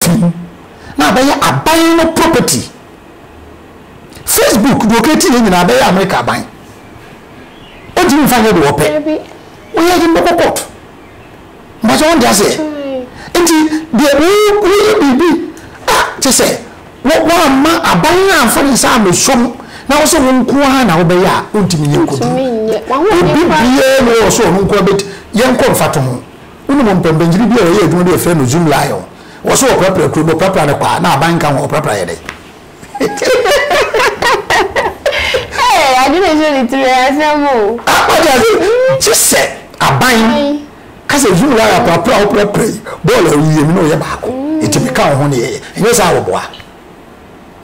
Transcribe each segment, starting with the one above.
fi ho na abɛyɛ aban no property. Facebook deɛ ɔkɛti yɛ nyinaa bɛyɛ America aban. Ɔntumi mfa nyɛ deɛ ɔpɛ. Woyɛ de mbɛkɔ court. Mbɛsɛ wɔn de aseɛ. Nti deɛ woyɛ biribi a kyɛ sɛ wɔamma aban no amfa ne nsa amɛsom na wo sɛ wo nko ara na wobɛyɛ a ɔntumi nyɛ nkɔduru. Obi biara na ɔwɔ sɛ ɔno nko ara bɛti yɛnkɔ mfatoho. Wonim mpɔmpɔnkyene bi a wɔyɛ adwuma bi a wɔfrɛ no Zoom Lion? Wɔ se wɔprapra kuro no, wɔprapra no kwaa na aban nka ho a, wɔprapra yɛ dɛn? Hey, adwene nhyɛ ne tiri ɛ, asɛm o. Ah, wate ase? Gye sɛ aban ka sɛ Zoom Lion aprapra a woprapra yi, bɔɔl a woyie no na ɔyɛ baako. Enti meka wo ho na yɛyɛ. Ɛnyɛ saa a, wɔboa.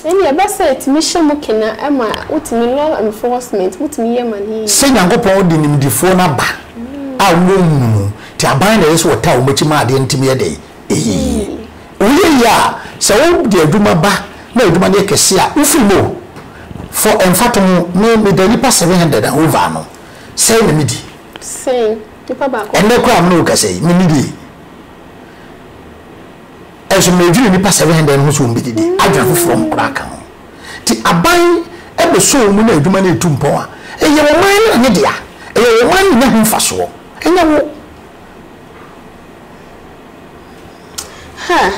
Ɛnneɛ ɛba saa a, ɛtumi hyɛ mo kena ma wotumi law enforcement, motumi yɛ ma no yiye. Sɛ Nyankopɔn de nimdefoɔ no aba a wowɔ hunu mu, te aban na ɛyɛ sɛ wɔtaa wɔn akyi ma adeɛ no tumi yɛ dɛn? Ɛyɛ yie. Woyɛ yie a, sɛ wode adwuma ba na adwuma no yɛ kɛseɛ a, wofiri mu o. For mfatoho, me, meda nnipa seven hundred and over ano, sɛn na medi? Sɛn, nipa baako pɛ. Ɛnnɛ koraa a me ne wo rekasa yi, mennidie. Nso mmerɛ dwirii nnipa seven hundred no ho sɛ wɔn bɛdidi, adwene afoforɔ ho koraa ka ho. Nti aban bɛsɔ wɔn mu na adwuma no retu mpɔn a, ɛyɛ ɔman no ne dea. Ɛyɛ ɔman no nya ho mfasoɔ, ɛnyɛ wo. Ha,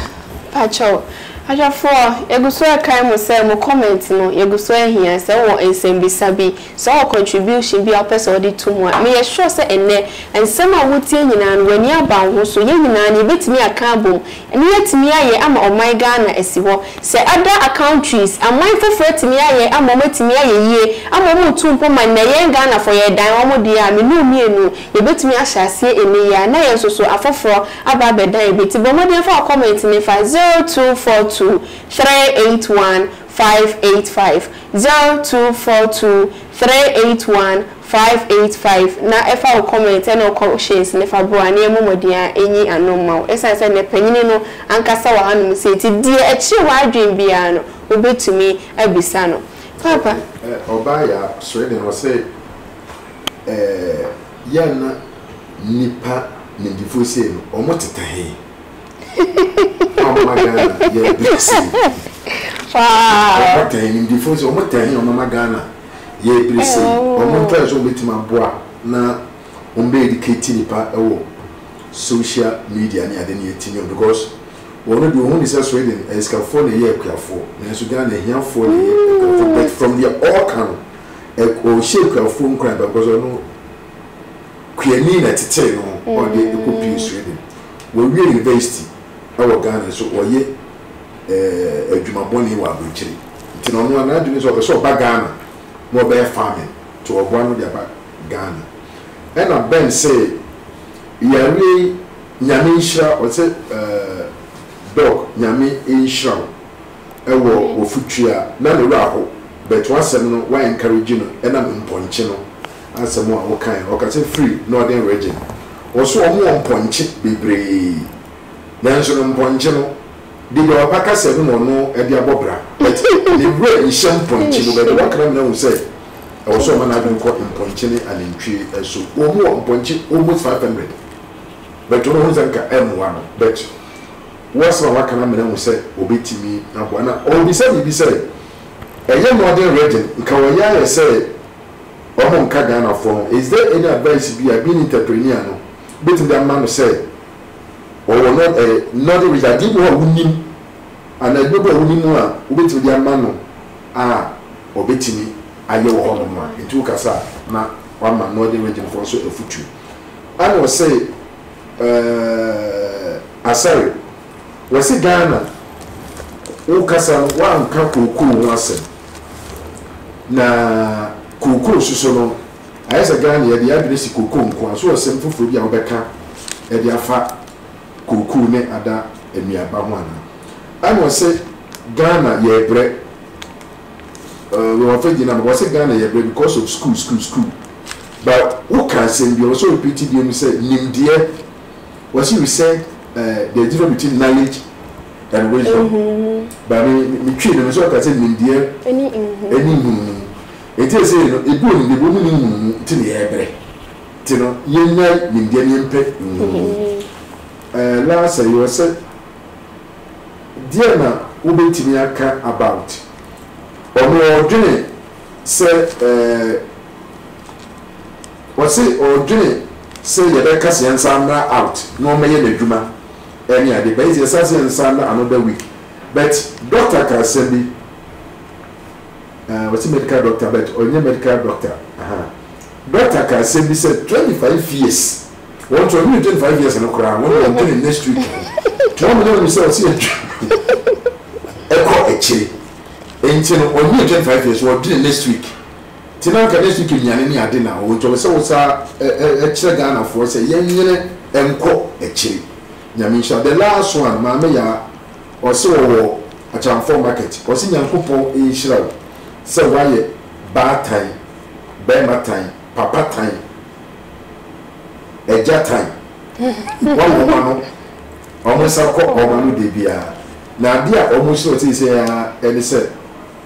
pakyɛw, ahwɛfoɔ, yɛgu so rekae mo sɛ mo comment no, yɛgu so ahia, sɛ wowɔ nsɛmmisa bi, Sɛ ɔwɔ contribution bi a wopɛ sɛ wode to mu a, meyɛ sure sɛ ɛnnɛ, nsɛm a wotie nyinaa no, w'ani aba wo ho so. Yɛn nyinaa no, yɛbɛtumi aka abom na yɛatumi ayɛ ama ɔman Ghana asi hɔ. Sɛ other countries, aman foforɔ atumi ayɛ ama wɔatumi ayɛ yie, ama wɔretu mpɔ ma nnɛ yɛn Ghanafoɔ yɛredan wɔn deɛ a, me ne wo mmienu, yɛbɛtumi ahyɛ aseɛ ɛnnɛ yi ara na yɛn nso so afoforɔ aba abɛdan bi. Nti bɔ mmɔden fa wo comment no fa zero two four two three eight one five eight five, zero two four two three eight one five eight five, na fa wo kɔmɛnt ne wo kɔhyehyɛns no fa bra na yɛmmɔ mmɔden a enyi ano mma wo. Esiane sɛ nnɛ panyin no ankasa wɔ hanom sɛɛ nti, deɛ ɛkyere w'adwene biara no, wobɛtumi abisa no. Paapa. Ɛ ɛ ɔbaa yaa sɔre dɛn ɔsɛ ɛ yɛn na nipa nimdifoɔ sei no ɔmo teta he. Ɔmama Ghana yɛ big city. Ɔmɔtɛn nimdefo nso ɔmɔtɛn ɔmama Ghana yɛ ebiri se ɔmɔ ntɔɛ so ɔmɛtumi aboa na ɔmɔbɛ edikati nipa ɛwɔ social media ne ade ne etimi ɔ because wɔn deɛ ɔhuni sɛ Sweden ɛyɛ sikafoɔ na ɛyɛ akuafoɔ nanso Ghana ahiafoɔ na ɛyɛ akuafoɔ but from deɛ ɔɔka no ɔɔhyɛ akuafoɔ nkuran paa because ɔno Kuani na ɛtetee no ma ɔde kɔ pue Sweden. Wawie university wɔ Ghana nso ɔyɛ eh, adwuma bɔne wɔ abonkyere. Nti na ɔno a n'adwene sɛ ɔpɛ sɛ ɔba Ghana na ɔbɛyɛ farming nti ɔboa no de aba Ghana. Ɛna Ben see yareɛ yi Nyame nhyira ɔse eh, Doc Nyame nhyira wo wɔ w'afotuo a na ne werɛ aho but w'asɛm no wa encourage no ɛnam mpɔnkye no. Asɛm a ɔkae no, ɔka sɛ, Firi Northern Region. Wɔso wɔn wɔ mpɔnkye bebree. Nanso no mpɔnkye no de deɛ ɔba kasa no mu ɔno de abɔ bra. But ne werɛ nhyɛ mpɔnkye mu. But deɛ wɔaka no ama no ahu sɛ ɛwɔ sɛ ɔma n'adwene kɔ mpɔnkye ne anantwie so. Wɔn wɔ mpɔnkye almost five hundred. But ɔno ɔhu sɛ nka ɛmmoa no. But wo asɛm a woaka no ama no ahu sɛ ɔbɛtumi aboa. Na ɔrebisa biribi sɛ, Ɛnyɛ Northern Region, nka wɔyɛ ayɛ sɛ Ɔmo nka Ghanafoɔ ho. Is there any advice bi a being entrepreneur no bɛtumi de ama no sɛ ɔwɔ no eh knowledge which adeɛ bi wɔ hɔ a wonim anaa adwuma bi wɔ hɔ a wonim a wobɛtumi de ama no a ɔbɛtumi ayɛ wɔ hɔnom a nti wokasa a na wama Northern Region foɔ nso afutuo. Ɛna ɔse eh Asare wɔse Ghana wokasa no woanka kookoo ho asɛm. Na cocoa nso so no, ayɛ sɛ Ghana yɛde yɛn adwene si cocoa nko ara so wɔ asɛm foforɔ bi a wobɛka de afa cocoa ne ada nnuaba ho anaa? Ɛna wɔse Ghana yɛbrɛ, wɔn afɛ gyina ma wɔse Ghana yɛbrɛ because of school school school but woka asɛm bi a wɔsɛ repeat biom sɛ nimdeɛ wɔse research, eh, the difference between knowledge and wisdom. Nhunumu. Ba me me twi no, me sɛ ɔka sɛ nimdeɛ. Ɛne nhunumu. Ɛne nhunumu. Nti ɛsɛ no ebi wɔ nimdeɛ bi wɔn ni nhunumu nti na yɛbrɛ. Nti no yɛnya nimdeɛ na yɛmpɛ nhunumu. Ɛɛ last ɛyɛ wɔ sɛ deɛ na wobɛtumi aka about ɔno ɔdwene sɛ ɛɛ. Ɔse ɔdwene sɛ yɛbɛka sɛ yɛnsan mmra out na ɔmmɛyɛ n'adwuma ɛne ade but yɛse yɛsan sɛ nsan mmra another week but doctor ka asɛm bi ɛɛ ɔse medical doctor but ɔnyɛ medical doctor ahaa doctor ka asɛm bi sɛ twenty five years wɔn nso ɔdwene twenty five years no koraa wɔn deɛ ɔdwene next week ho nti wɔn nyɛ wɔn sɛ ɔse yɛdwene ɛkɔ akyire nti no ɔnyɛ twenty five years ɔdwene next week. Te na anka next week nnuane ne ade na ɔwɔ nti ɔpɛ sɛ wo sa kyerɛ Ghana foɔ sɛ yɛn nwene nkɔ akyire Nyame nhyira wo the last one maame yaa ɔse ɔwɔ Akyɛmfoɔ market ɔse Nyankopɔn nhyira wo sɛ wayɛ baa tan barima tan papa tan agya tan boa wɔn ma no wɔn nsa kɔ wɔn ano da biara na adeɛ a wɔn hyerɛ wo seisei ara ɛne sɛ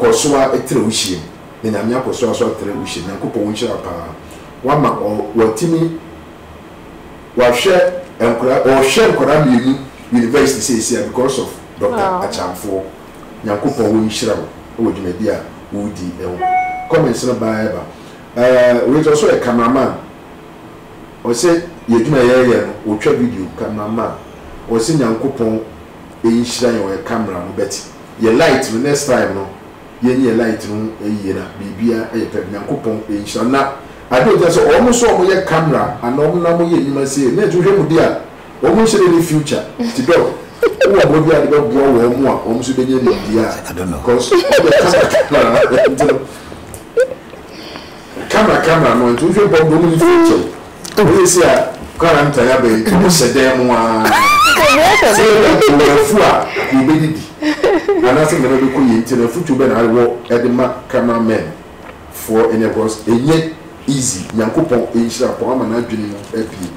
kɔsoa ɛtrɛ wo hyia mu. na Nyame akɔ so aso atrɛ wo hyɛ Nyankopɔn nhyira paa wama ɔ watimi wahwɛ nkora ɔhwɛ nkora mmienu university seesia because of Doctor Akyamfoɔ Nyankopɔn ɔnhyira wo wɔ dwumadi a wodi ho comments no baa ɛba ɛɛ wei deɛ ɔsɛ ɔyɛ camera man ɔsɛ yɛ adwuma yɛɛyɛ no ɔtwa video camera man ɔsɛ Nyankopɔn nhyira yɛn ɔyɛ camera no bɛte yɛ light no next time no Yɛnyɛ light no yie na biribia yɛ pɛ Nyankopɔn nhyira na ade a ɔgyina sɛ wɔn so wɔn yɛ camera anaa wɔn na wɔn yɛ nnwuma sei net wohwɛ mu deɛ a wɔn nhyɛ da nni future nti dɔk wowɔ mmoa bi a wode bɛboa wɔn a wɔn nso bɛnya nimdeɛ a cause wɔn yɛ camera camera nti no camera camera no nti wohwɛ mpo a wɔn nni future o. Woyɛ sei a, quarantine aba yi, nti mohyɛ dan mu ara. Sɛ yɛyɛ nkrɔfoɔ a, anka yɛbɛdidi anaasɛ nneɛma bɛkɔ yie, nti no afotuo bɛn na wɔ de ma camera men foɔ nnɛ, cos ɛnyɛ easy, Nyankopɔn nhyira wo paa, wama n'adwene mu abue,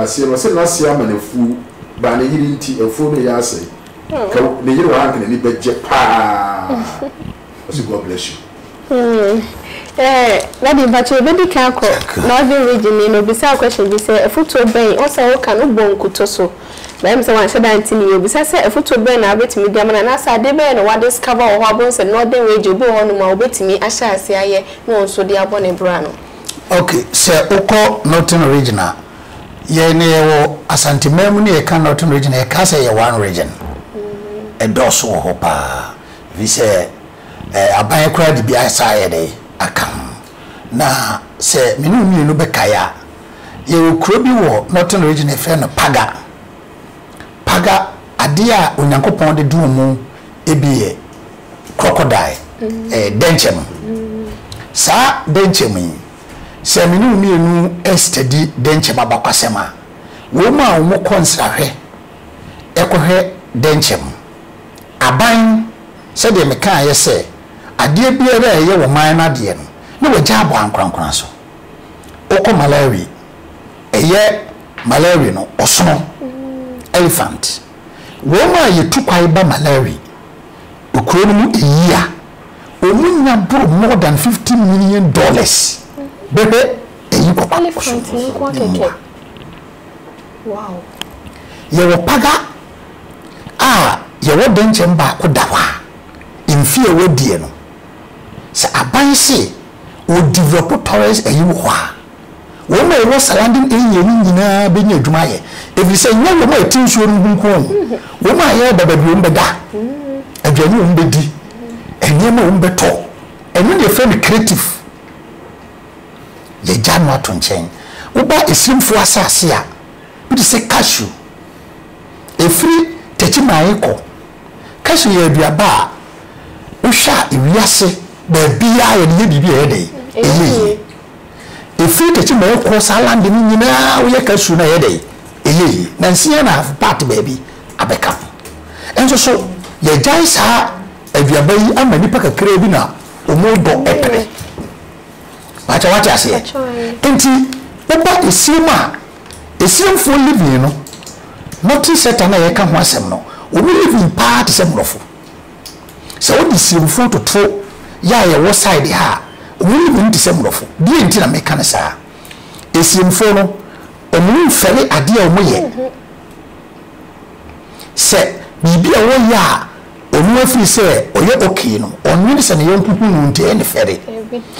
aseɛ no ɔse n'aseɛ ama no afuo, baa ne yere nti, afuo no reyɛ asɛe, nka ne yere wɔ ha anka n'ani bɛgye paa. Ɔse God bless you. Eeh daddy mpakyɛ yɛbɛdi kan akɔ northern region ni no obisaa question bi sɛ afutuo bɛn ɔsɛ woka no bɔ nkutoo so but ɛyɛ me sɛ wanhyɛ da ante ne yie obisa sɛ afutuo bɛn na wobɛtumi de ama no anaasɛ adeɛ bɛyɛ na wa discover wɔ hɔ a wobɛhu sɛ northern region obi wɔ hɔ nom a obɛtumi ahyɛ aseɛ ayɛ na ɔnso de abɔ ne bra no. Ok sɛ wokɔ northern region a yɛ ne yɛwɔ asante man mu ne yɛka northern region a yɛkaa sɛ ɛyɛ one region ɛdɔɔso wɔ hɔ paa Efisɛ aban koraa de bi asan ayɛ dɛn? Aka ho. Na sɛ me ne wo mmienu bɛkae a, yɛwɔ kuro bi wɔ Northern Region a yɛfrɛ no Paga. Paga, adeɛ a Onyankopɔn de dom mu bi yɛ crocodile, dɛnkyɛ no. Saa dɛnkyɛm yi, sɛ me ne wo mmienu ɛrestadi dɛnkyɛm abakwasɛm a, wɔn a wɔkɔ nsrahwɛ kɔhwɛ dɛnkyɛm, Aban, sɛdeɛ mekaeɛ sɛ, adeɛ biara a ɛyɛ wo man no adeɛ no, na wɔagya abɔ ankorankora so. Wokɔ Malawi, ɛyɛ Malawi no, ɔsono, elephant. Wɔn a yɛtu kwan ba Malawi, kuro no mu a year, wɔnya boro more than fifty million dollars bɛhwɛ ayi kɔkɔɔ. Elephant no nko ara kɛkɛ. Wow! Yɛwɔ paga a yɛwɔ dɛnkyɛm baako da hɔ a mfe a ɛwɔ deɛ no sɛ aban se wɔ develop tourist ayi wɔ hɔ a wɔn a ɛwɔ surrounding area no nyinaa bɛnya adwuma ayɛ ɛfiri sɛ nyɛ wɔn a ɛte nsuo no ho nko o wɔn a yɛreba baabi wɔn bɛda aduane wɔn bɛdi nneɛma wɔn bɛtɔ ɛno na yɛfrɛ no creative Yɛagya no ato nkyɛn. Woba Asirimfoɔ asase a, wote sɛ cashew. Ɛfiri Techiman kɔ. Cashew yɛ aduaba a, wohwɛ a ewiase baabiara yɛde yɛ biribi a ɛyɛ dɛn? Ɛyɛ yie. Ɛfiri Techiman kɔ saa land no nyinaa woyɛ cashew no a ɛyɛ dɛn? Ɛyɛ yie. Nansa and a half part baabi abɛka ho. Nso so yɛagyae saa aduaba yi ama nnipa kakraa bi na wɔdɔ pene. Pakyɛ wate aseɛ? Nti woba esirem a, esiremfoɔ living no, nothing sector no a yɛka ho asɛm no, wɔn living paa te sɛ Mmorɔfo. Sɛ wode esiremfoɔ toto yɛ a yɛwɔ side ha a, wɔn living te sɛ Mmorɔfo. Deɛ nti na meka no saa, esiremfoɔ no, wɔn mfɛre adeɛ a wɔyɛ. Sɛ biribi a wɔyɛ a, Ɔno afiri sɛ ɔyɛ okay no ɔnnwene sɛ ne yɔnko hu no nti ɛyɛ no fɛre.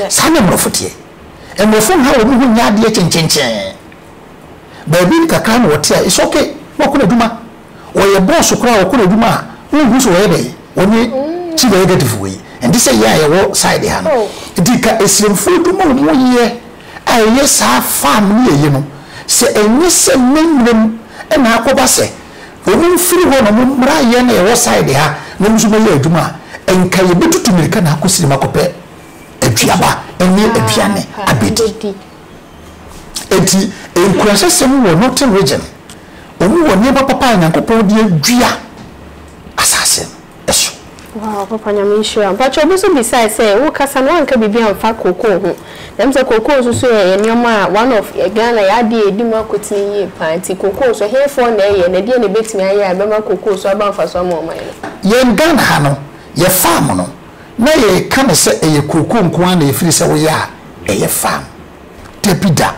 Saa na mmorɔfo teɛ. Mmorɔfo nha wɔn ho nyɛ adeɛ kyenkyenkyee. Baabi kakra na wɔte a it's okay na wɔkɔ no adwuma. Wɔyɛ boss koraa a wɔkɔ no adwuma a wonhu sɛ wɔyɛ dɛn? Wɔnyɛ ti negative wei. Ɛnte sɛ yɛn a yɛwɔ side ha no. Nti ka asiremfoɔ adwuma a wɔn yɛ a ɛyɛ saa farm ne yɛyɛ no sɛ ɛnyɛ sɛ mmɛmmerɛ mu na akɔba sɛ Wɔn mfiri hɔ na wɔn mmra yɛn a yɛwɔ side ha na wɔn nso bɛyɛ adwuma a, anka yɛbɛtutu mmirika na akɔ sirem akɔpɛ aduaba ne aduane abɛdi. Enti nkuranhyɛsɛm wɔ Northern Region, wɔn wɔ nneɛma papa a Nyankopɔn de adua asase no. so. Wow papa nyame nhyira wo. Mpakyɛw obi nso bisae sɛ wo kasa no wanka biribi anfa cocoa ho na ɛm sɛ cocoa nso so yɛ nnoɔma a one of Ghana yɛ adeɛ a ɛdi mu akotene yie paa nti cocoa nso hefoɔ na ɛyɛ na ɛdeɛn na ɛbɛtumi ayɛ a ɛbɛma cocoa nso aba mfasoɔ ama ɔman no. Yɛn Ghana ha no yɛ farm no na yɛ ka no sɛ ɛyɛ cocoa nko ara na ɛfiri sɛ woyɛ a ɛyɛ farm dabi da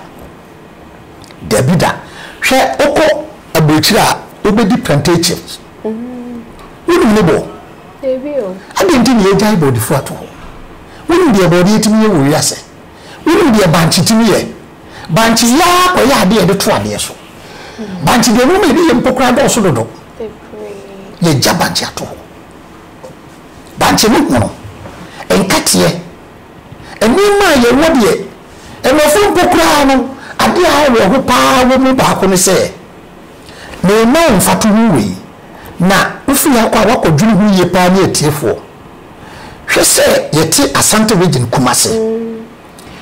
dabi da hwɛ wokɔ aburokyire a wobɛdi plantations. Wonim ne bɔ? Adɛn nti na yɛagyae bɔdefo ato hɔ? Wonim deɛ bɔdeɛ tumi yɛ wɔ wiase? Wonim deɛ bankye tumi yɛ? Bankye yɛ ara kɔyɛ adeɛ a yɛde to adeɛ so. Bankye deɛ nneɛma a ɛde yɛ mpo koraa dɔɔso dodo. Yɛagya bankye ato hɔ. Bankye no hono, nkateɛ, nneɛma a yɛwɔ deɛ, mmɔfra mpo koraa no, adeɛ a awerɛho pa ara wɔ mu baako ne sɛ, Na yɛma wo mfatoho wei, na wofiri ha kɔ a woakɔdwene ho yie paa ne atiefoɔ. Hwɛ sɛ yɛte Asante Region Kumase.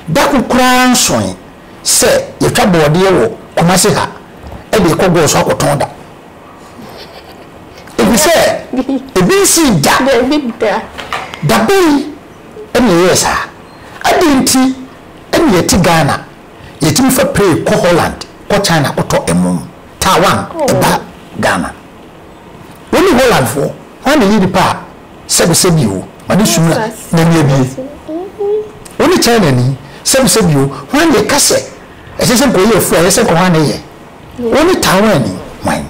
Da ko koraa nsoe sɛ yɛtwa bɔɔdeɛ wɔ Kumase ha de rekɔ Goor so akɔtɔn da. Efisɛ ebi nsii da. Dabei na yɛyɛɛ saa. Adɛn nti na yɛte Ghana? Yɛtumi fa plane kɔ Holland, kɔ China kɔtɔ ɛmo, Taiwan ba Ghana. Wo ne Holland foɔ, hwan na ɛyɛ nipa a sɛbi sɛbi o, ma ne sum n'ani abue? Wo ne China ni, sɛbi sɛbi o, hwan na ɛka sɛ ɛsɛ sɛ nkɔyɛ afuo a ɛyɛ sɛ nka hwan na ɛyɛ? Wo ne Taiwan ni, hwan?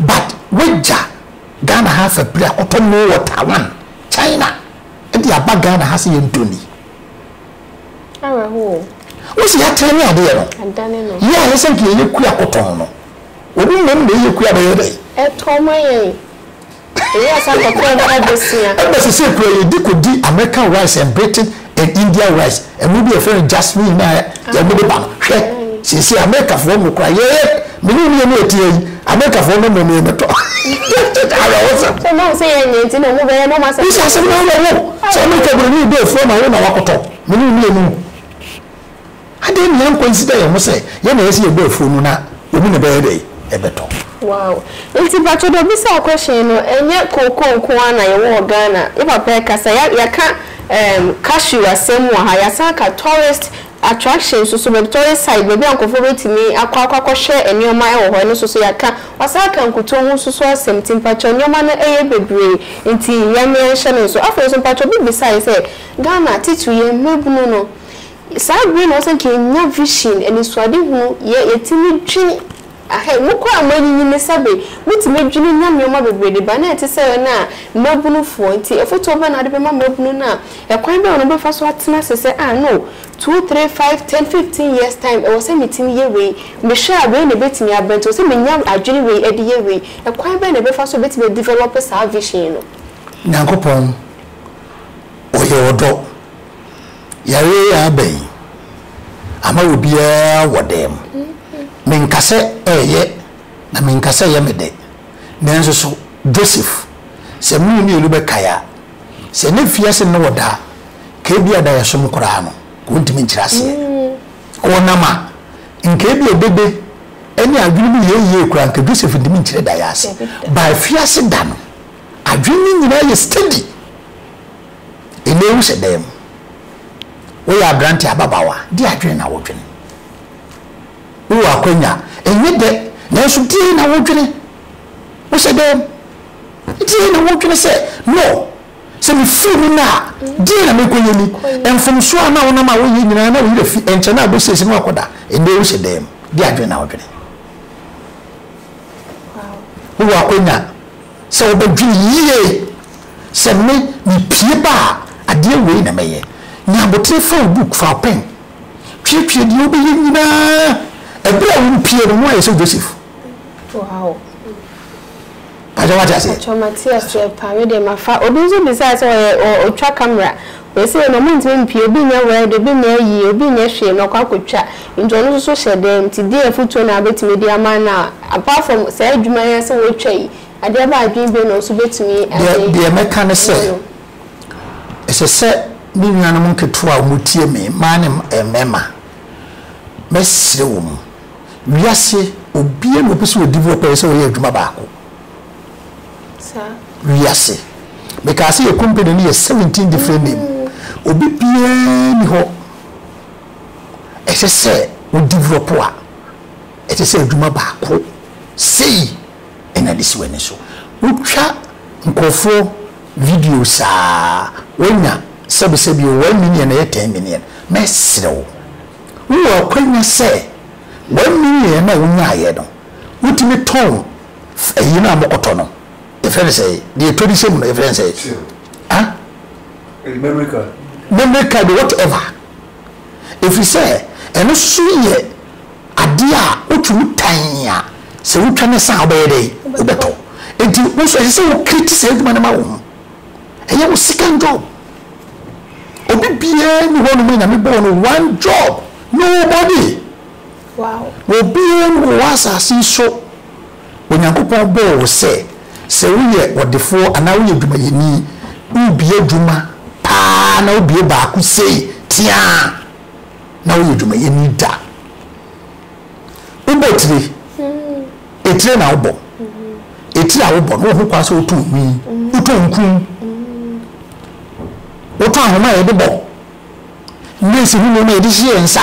But wagya Ghana ha afa pire akɔtɔ mo wɔ Taiwan, China de aba Ghana ha sɛ yɛntɔ ni. Awerɛhoɔ o. Wose yɛatene ne adeɛ no. Adane no. Yɛ a yɛsɛ nka yɛyɛ kua kɔtɔn no. Obi mmom na ɛyɛ kua bɛyɛ dɛn. Ɛtɔ ma yɛn. Yɛyɛ a saa kɔtɔn no ɛbosea. Ɛba sesei koraa yɛdi kɔdi American rice and Britain and India rice, ɛmo bi a yɛfrɛ no jasmine no a yɛn mo de ba no. Hwɛ, sesei Americafoɔ mo koraa yɛyɛ. Me ne nneɛma a ɛteɛ yi, Amerikafoɔ no mmom yɛ mɛtɔ. Awerɛhosɛm. So na wɔn sɛ yɛnyɛ nti na wɔn bɛyɛ na wɔn asɛm. Bisa asɛm no awerɛho. Sɛ Amerika buroni yi bɛ afua ma wo na wakɔtɔ, me ne wo nni emu. Adɛn na yɛnkɔ nsida yɛn ho sɛ yɛn na ɛyɛ sɛ yɛbɔ afuo no na wɔn na ɛbɛyɛ dɛn? Ɛbɛtɔ. Wow. Nti mpakyɛ deɛ ɔbisaa question no, ɛnyɛ cocoa nko ara na yɛwɔ wɔ Ghana. Yɛ papa ɛkasa, yɛaka cashew asɛm wɔ ha, yɛasan aka tourist Attractions nso, baabi tourist site, baabi a nkurɔfoɔ bɛtumi akɔ akɔ akɔhwɛ nneɛma wɔ hɔ, ɛno nso so yɛaka. Wɔasan aka nkutoo ho nso so asɛm, nti mpakyɛw nneɛma no yɛ bebree, nti yɛn yɛnhyɛ no nso. Afei nso mpakyɛw obi bisaeɛ sɛ, Ghana titiriw yɛn mmabunu no, saa bere na wɔsɛ nka yɛnya vision, anisoadehunu, yɛ yɛtumi dwen, Ahɛ, mo kɔ a moanyinyin ne sɛbe mutumi dwene nya nnoɔma bebree de ba na ɛte sɛ wɔn a mmabunu foɔ. Nti afotuo bɛn na wode bɛma mmabunu no a ɛkwan bɛn na wɔbɛfa so atena ase sɛ ah no, two, three, five, ten, fifteen years time ɛwɔ sɛ metumi yɛ wei, mehwɛ a wei na ɛbɛtumi aba nti ɛwɔ sɛ menya adwene wei ɛde yɛ wei. Ɛkwan bɛn na ɛbɛfa so ɛbɛtumi a develop saa vision no? Nyankopɔn ɔyɛ ɔdɔ Yare yi aba yi ama obiara wɔ dɛm. Menka sɛ ɛyɛ na menka sɛ ɛyɛ me dɛ, nanso so Joseph, sɛ mo mmienu bɛkae a, sɛ na fi ase ne wo da a, nka ebia da a ɛsom koraa no, nka ontumi nkyerɛ aseɛ. Ɔwɔ nam a, nka ebia dede ne adwene mu yɛ yie koraa, nka Joseph ntumi nkyerɛ da yi ase. But afi ase da no, adwene no nyinaa yɛ steady. Nnɛ wo hyɛ dan mu, wo yɛ aberante ababaawa, deɛ adwene na wo dwene? Wo wɔ akwanya, ɛnyɛ dɛ, nanso deɛ na wo dwene? Wo hyɛ dan mu, deɛ na wo dwene sɛ, no, sɛ me firi mu nnɛ a, deɛ na mekɔ yɛ ni? Mfomsoɔ a na wo nam a wo yɛ nyinaa na wo werɛ fi, ɛnkyɛ na abɛ siesie na wakɔ da. Nnɛ wo hyɛ dan mu, deɛ adwene na wo dwene? Wo wɔ akwanya. sɛ wɔbɛdwene yie sɛ me mepue ba a adeɛ wei na mɛyɛ. Nya aboterɛ fa wo book, fa wo pɛn tweetwee deɛ wobɛyɛ nyinaa. Ɛberɛ a worepue no na woayɛ sɛ Joseph. Wow. Pakyɛ wate aseɛ? Pakyɛ mate aseɛ paa, me deɛ mafa. Obi nso bisaa sɛ ɔyɛ ɔtwa camera. Seesei no, wɔntumi mpue, obi nyɛ wɛɛde, obi nyɛ ayie, obi nyɛ hwee na ɔkɔ akɔtwa, nti ɔno nso so hyɛ dɛn, nti deɛn afotuo na wobɛtumi de ama no a, apart from saa adwuma yi ara sɛ wɔretwa yi, adeɛ bɛn adwene bio na ɔnso bɛtumi Deɛ, de deɛ mɛka ne sɛ, ama no? ɛsɛ sɛ me nuanom nketewa a wɔtie me, mmaa ne mmarima, mɛsrɛ wɔn, wiase, obiara na ɔpɛ sɛ ɔdi bi, ɔpɛ sɛ ɔyɛ adwuma baako. Wiase. Mekaa sɛ yɛ company no yɛ seventeen different name. Obi biara ni hɔ ɛsɛ sɛ wo develop a ɛsɛ sɛ adwuma baako sei ɛna de si w'ani so. Wotwa nkurɔfoɔ video saa woanya sɛbesɛbi o one million ɛyɛ ten million. Mɛsrɛ wo wowɔ akwanya sɛ one million no a wonyaeɛ no wotumi tɔn. Fa eyi na mokɔtɔ no. Yɛfrɛ no sɛɛ. Deɛ ɛtɔ di sɛ mu no, yɛfrɛ no sɛɛ. Till. Ah? Memory card. Memory card, whatever. Ɛfiri sɛ, ɛno nso yɛ adeɛ a wotumi tan a, sɛ wotwa no sa a, wobɛyɛ dɛn? Wobɛtɔ. Enti wo nso, ɛsɛ sɛ wo create saa adwuma no ma wo ho. Ɛyɛ wo second job. Obi biara nni hɔnom a Nyame bɔɔ no one job. Nobody. Obiara mu wɔ asase yi so. Onyankopɔn bɔɔ wo sɛ, sɛ woyɛ ɔdefoɔ anaa woyɛ adwumayɛni, wobue adwuma paa na wobue baako sei teaa na woyɛ adwumayɛni da. Wobɔ tire, etire na wobɔ, etire a wobɔ no wɔ ho kwan sɛ wotɔn nwi, wotɔn nkum, wotɔn ahoma a yɛde bɔ, nɛɛsi ho nneɛma a yɛde hyehyɛ yɛn nsa.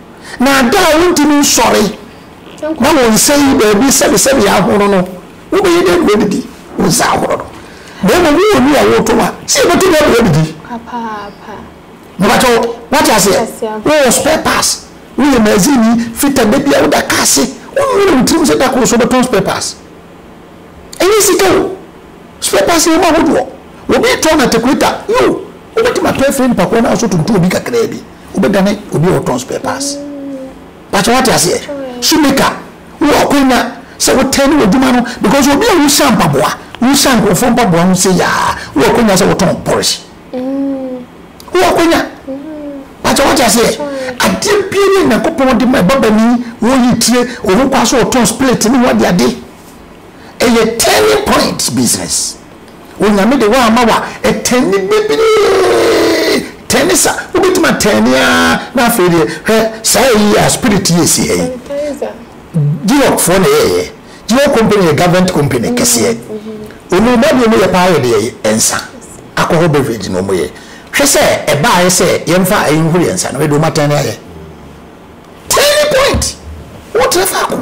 Na da a wontumi nsɔre na wɔnsɛe baabi sɛbesɛbe ahorow no, wobɛyɛ dɛn na woadidi wo nsa ahorow no? Na mmom wowɔ nwi a woretɔn a, sɛ yebetumi ama woadidi? Papaapa. Mepakyɛw, woate aseɛ? Wowɔ spare parts, woyɛ magazine fitter, da biara woda kaa ase, wonnwene wo tirim sɛ da koro so wobɛtɔn spare parts. Ɛnyɛ sika o, spare parts yɛ mu ahodoɔ. Obi retɔn atakuleta, yoo, wobɛtumi atɔ afiri no pakoa no ara so tonto obi kakraa bi. wobɛdane obi a ɔtɔn spare parts pakyɛ wate aseɛ shoemaker wowɔ akwanya sɛ wotɛn ne w'adwuma no because obi a wohyɛ mpaboa wohyɛ nkurɔfoɔ mpaboa ho sɛ yaa wowɔ akwanya sɛ wotɔn pɔrehye wowɔ akwanya pakyɛ wate aseɛ adeɛ bia ne nyankopɔn de ma ɛbabani wɔyi tire ɔho kwa so ɔtɔn split ne ho adeade ɛyɛ turning point business Onyame de w'ama wa ɛtɛne bebree tɛne sa wobɛtumi atɛne aa na afei deɛ hwɛ saa ɛyi yɛ a spirit yɛ si ha yi Duroc foɔ na ɛyɛ yɛ Duroc company yɛ government company kɛseɛ ɔmu ma deɛ ɔmu yɛ paa yɛ deɛ ɛnsa alcohol beverage na ɔmu yɛ hwɛ sɛ ɛbaa yɛ sɛ yɛmfa ɛyi nhoro yɛ nsa na ɛde ɔmu atɛne ayɛ tɛne point wotrɛ faako.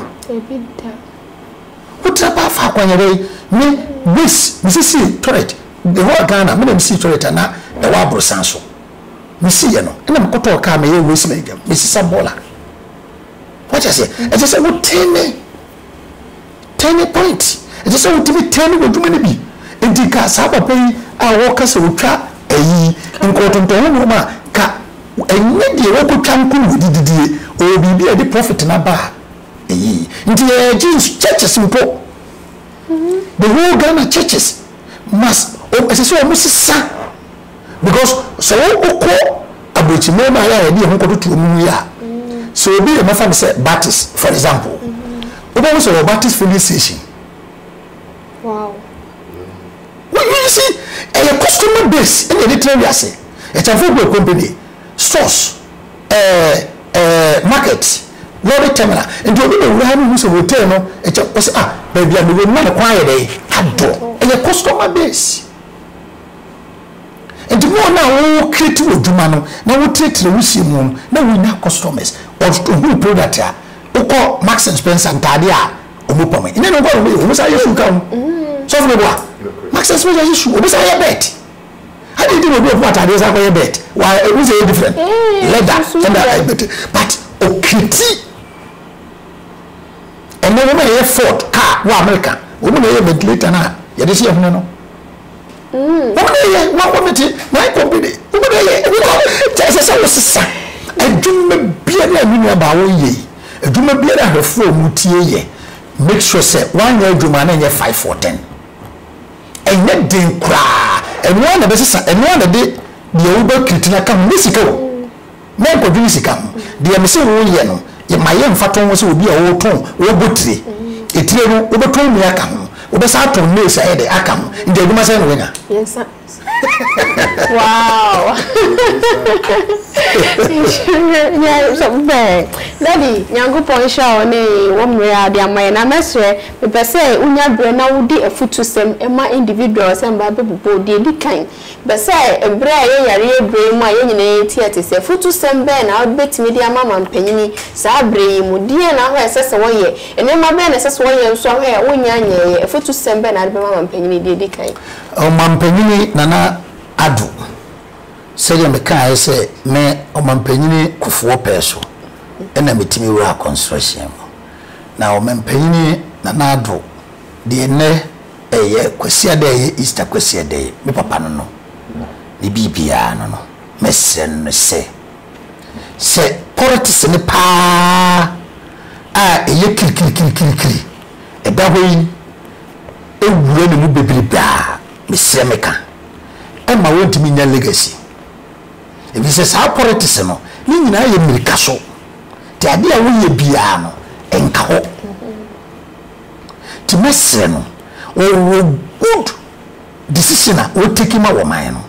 Wotra paa fa akwanhyɛdɛ yi ne ways me si sii toilet mewɔ Ghana me na me sii toilet a na ɛwɔ aborosan so me sii yɛ no ɛna me kɔtɔɔ car me yɛ ways man dɛm me sisa bɔɔla wate aseɛ ɛkyɛ sɛ wo tɛne tɛne point ɛkyɛ sɛ wotumi tɛne w'adwuma no bi nti ka saa papa yi a wɔka sɛ wotwa ayi nkɔɔtontɔn ho nneɛma ka ɛnyɛ deɛ wɔkɔtwa nko na wɔde didie ɔwɔ biribi a ɛde profit no aba a eyi nti yɛyɛ jeans churches mpo the whole Ghana churches must wɔn ɛsɛ sɛ wɔn sesa because sɛ wɔn okɔ aburokyi mmarima ayɛ a yɛde yɛn ho kɔtoto wɔn mu yɛ a sɛ obi yɛ mɛfa no sɛ Baptist for example wobɛhu sɛ wɔ Baptist filling station wow wɔn yi si ɛyɛ customer base ɛna yɛde tena wiase ɛkyɛnfo gu ɛkɔmpɛ deɛ stores. ɛɛ ɛɛ market, lorry terminal, nti obi bɛwura ha no hu sɛ hotel no ɛkyɛ ɔsɛ ah baabi a mewɔ mu na ne kwan ayɛ dɛn adɔ, ɛyɛ customer base nti mo na wo create wɔ dwuma no na wo tire wo sie mu no na wo nya customers ɔhu product a wokɔ Marks and Spencer ntaade a ɔmo pam ɛnyɛ ne nkɔ ɔmo yɛ ɔmo sa yɛ shoe ka ho sɔfo ne bo a Marks and Spencer yɛ shoe ɔmo sa yɛ bed. Adɛn nti na obi ɔpoma ataadeɛ san kɔyɛ bɛɛt? Wa ehu sɛ ɛyɛ different? Lɛda ɛna ɛbɛte but okiti ɛnɛ wɔn na ɛyɛ Ford car wɔ America wɔn na ɛyɛ ventilator na yɛde si ɛhene no. Mm. Wɔn na ɛyɛ wɔn wɔn ti wɔn kɔmpini wɔn na ɛyɛ wɔn na kyɛ sɛ sɛ wɔsesa adwuma bia ne ɛnu nua baa wɔn yɛ yi adwuma bia ne ahwɛfoɔ wɔn tie yɛ make sure sɛ wɔn anyɛ adwuma na ɛnyɛ five for ten. Ɛnyɛ den koraa. Ɛno ara na ɛbɛsesa, ɛno ara na ɛde deɛ wobɛ treat no aka ho. Nyɛ sika o. Mɛnkɔdwene sika ho. Deɛ mese woyɛ no, ma yɛ mfatoho ho sɛ obi a ɔretɔn, ɔrebɔ tire. Etire no, wobɛtɔn mmie aka ho, wobɛsan atɔn lace ayɛ dɛ aka ho. Nti adwuma sɛn na wanya? Mmiɛnsa. Wow! Daddy, Nyankopɔn nhyira wo ne wo mmere a wode ama yɛn. Na mɛsrɛ, Mepɛ sɛ wonya berɛ na wode afutusɛm ma individual sɛ mmaa bɛbobɔ. Deɛ ɛdi kan, mepɛ sɛ ɛberɛ a ɛyɛ yareɛ berɛ yi mu a yɛn nyinaa yɛretie ɛte sɛ, afutusɛm bɛn na wobɛtumi de ama mampanin saa berɛ yi mu? Deɛn na hɔ a ɛsɛ sɛ wɔyɛ? Nneɛma bɛn na ɛsɛ sɛ wɔyɛ nso a hɔ a wonnya nyɛeɛ? Afutusɛm bɛn na wode bɛma mampanin deɛ ɛdi kan? Ɔmampanin Nana Addo, sɛdeɛ mekaeɛ sɛ me Ɔmampanin Kufuor pɛɛ so na metumi wuraa kɔnsrɛhyɛn mu. Na Ɔmampanin Nana Addo, deɛ nnɛ ɛyɛ Kwasiada a ɛyɛ Easter Kwasiada yi, me papa no no, ne biribiara no no, mɛsrɛ no no sɛ, sɛ politics no pa ara a ɛyɛ kirikirikirikiri ɛda hɔ yi wura ne mu bebrebe a, mesrɛ meka, ɛmma wɔntumi nnya legacy. Ɛfiri sɛ saa politics no, ne nyinaa yɛ mmirika so. Nti adeɛ a woyɛ biara no nka hɔ. Nti mɛsrɛ no ɔwɔ good decision a ɔteki ma wɔ man no,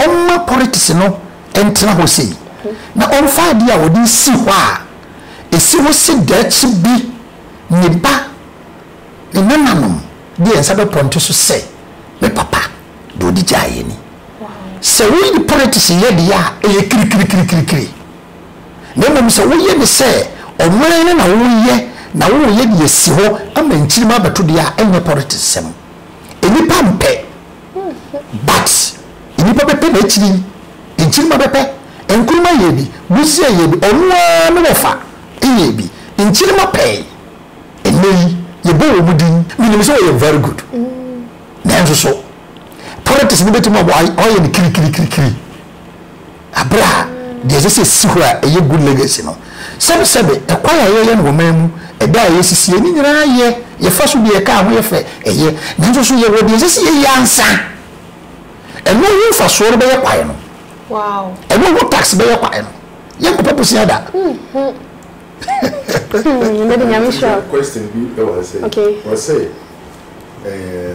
ɔmma politics no ntena hɔ sei, na ɔmfa adeɛ a ɔde si hɔ a ɛsi hɔ se daakye bi ne ba, ne nananom de yɛn nsa bɛpɔnte so sɛ me papa deɛ ɔde gyaeɛ ni. Sɛ wode politics yɛ deɛ a ɛyɛ kirikirikirikiri. na mmom sɛ woyɛ ne sɛ ɔman no na woreyɛ na woreyɛ de asi hɔ ama nkyirimma abɛto deɛ a ɛnyɛ politics sɛm. Nnipa mpɛ but nnipa bɛpɛ na akyiri yi nkyirimma bɛpɛ. Nkrumah yɛɛ bi, Busia yɛɛ bi, ɔno ara ne wɔfa yɛɛ bi. Nkyirimma pɛe. Ɛnnɛ yi yɛbɔ wɔn din. Menim sɛ ɔyɛ very good nanso so politics no bɛtumi aboa? Ɔyɛ no kirikirikirikiri. Bere a nea ɛsɛ sɛ esi hɔ a ɛyɛ good legacy no, sɛbesɛbe, kwae a yɛyɛ no wɔ man mu, ɛda a yesisi yɛ, ne nyinaa yɛ, yɛfa so di, ɛka ho, yɛ fɛ, ɛyɛ. Nanso so yɛwɔ nea ɛsɛ sɛ yɛyɛ ansa? Ɛno ho mfaso no bɛyɛ kwae no. Ɛno ho tax bɛyɛ kwae no. Yɛnkɔpɛ bosea da. Mmedi nyame hyira. Question bi wɔ ha sɛ, wɔsɛ ɛɛ.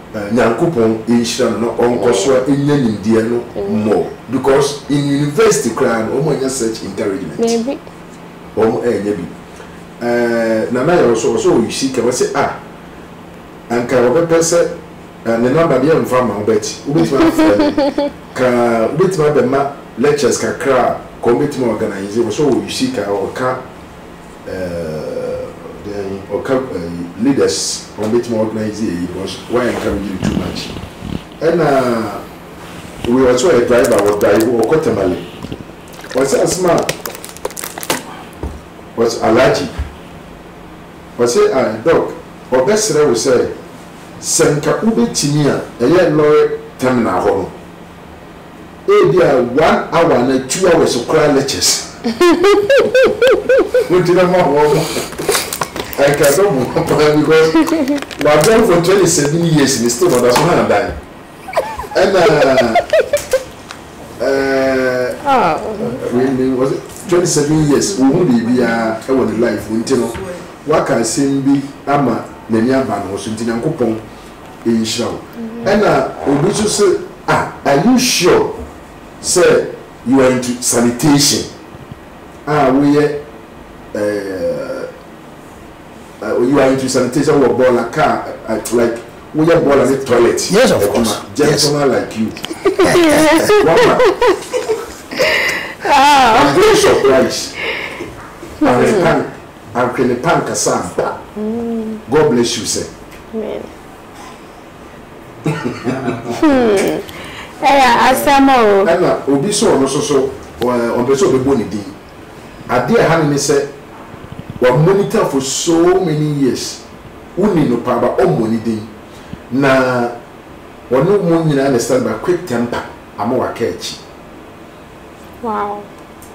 Nyankopɔn nhyira no na ɔnkɔ so a nya nimdeɛ no more because in university koraa no wɔn anya such encouragement wɔn anya bi eh, Nana Yaw so ɔsɛ ɔyɛ sika wɔsɛ ah anka ɔbɛpɛ sɛ eh, ne namba deɛ mfa ma wobɛti wobɛtumi afrɛ me ka wobɛtumi abɛma lectures kakra a ka wɔbɛtumi organize wɔsɛ ɔyɛ sika ɔka Eh then ɔka eh, leaders wɔn betumi organize eyi because wɔyɛ nka mi gyiri too much ɛna wei ɔsɛ ɔyɛ driver wɔ drive ɔkɔ tamale ɔsɛ asoma ɔsɛ alagye ɔsɛ ah doc ɔbɛsrɛ wo sɛ sɛ nka wobɛtumi a ɛyɛ lorry terminal hɔ no. Ebia one hour anaa two hours koraa lectures wogyina ma wɔn no, anka ɛbɛboa paa because wɔadan for twenty seven years no still wɔda so hàn dan. Ɛna ɛɛ wei no was it twenty seven years wɔhu biribiara wɔ ne life mu nti no, waka asɛm bi ama n'ani aba no so nti Nyankopɔn nhyira wo ɛna obi nso se ah are you sure sɛ you are into sanitation a woyɛ eh you are into sanitation wɔ bɔɔla car eh, like woyɛ bɔɔla ne toilet Yes, of course. adwuma Yes. gentleman like you wama I'm very surprised. American Anhwene pa ankasa ampa God bless you sir. Amen hmm ɛyɛ asɛm o. Ɛna obi sɛ ɔno nso so ɔmpɛ sɛ ɔbɛbɔ ne din. Adeɛ ɛha no ne sɛ wa monitor for so many years woni no paa but ɔmmɔ ne din na ɔne mo nyinaa na ɛsane ba quick temper ama waka akyi. Wow.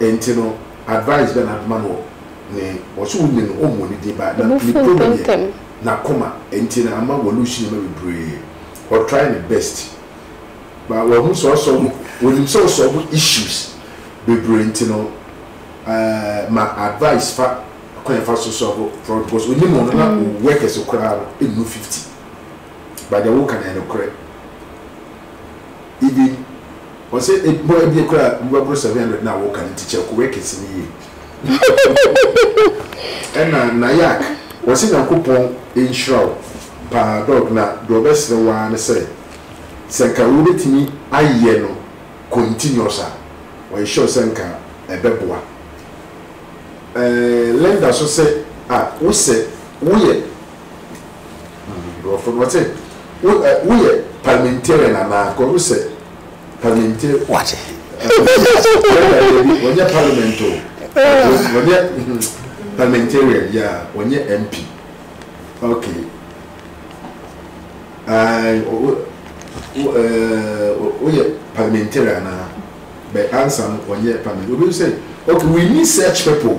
Enti no advice bɛn na bɛma no wɔ ne wɔ so wonyi no ɔmmɔ ne din ba na ne problem yɛ n'akoma enti na ama wa lose nneɛma bebree ɔ try ne best but wahu sɛ ɔsɔ onim sɛ ɔsɔlve issues bebree enti no eh ma advice fa kwan yɛ fa so sɔlve problem because onim ɔno na o workers koraa no ɛnnu 50 but deɛ woka no yɛ nokorɛ. Eden, ɔsɛ ebɔ ebie koraa nnipa boro seven hundred na wɔka no nti kyɛ ko wɛ kɛse no yie. Ɛna Nayak, ɔsɛ Nyankopɔn nhyira wo paa dog na deɛ ɔbɛsrɛ wo ara ne sɛ sɛ nka wobɛtumi ayɛ no continuous a ɔyɛ sure sɛ nka ɛbɛboa Linda so sɛ ah wosɛ woyɛ Nkurɔfo no wɔte wo ɛ woyɛ parliamentarian anaa kɔ wo sɛ parliamentarian. Wɔte. Wɔnyɛ parliament o. Wɔnyɛ parliamentarian ya wɔnyɛ MP. Okay. Ayi wo wo ɛɛ woyɛ parliamentarian anaa bɛ ansa no wɔnyɛ parliament obi sɛ okay we need such people.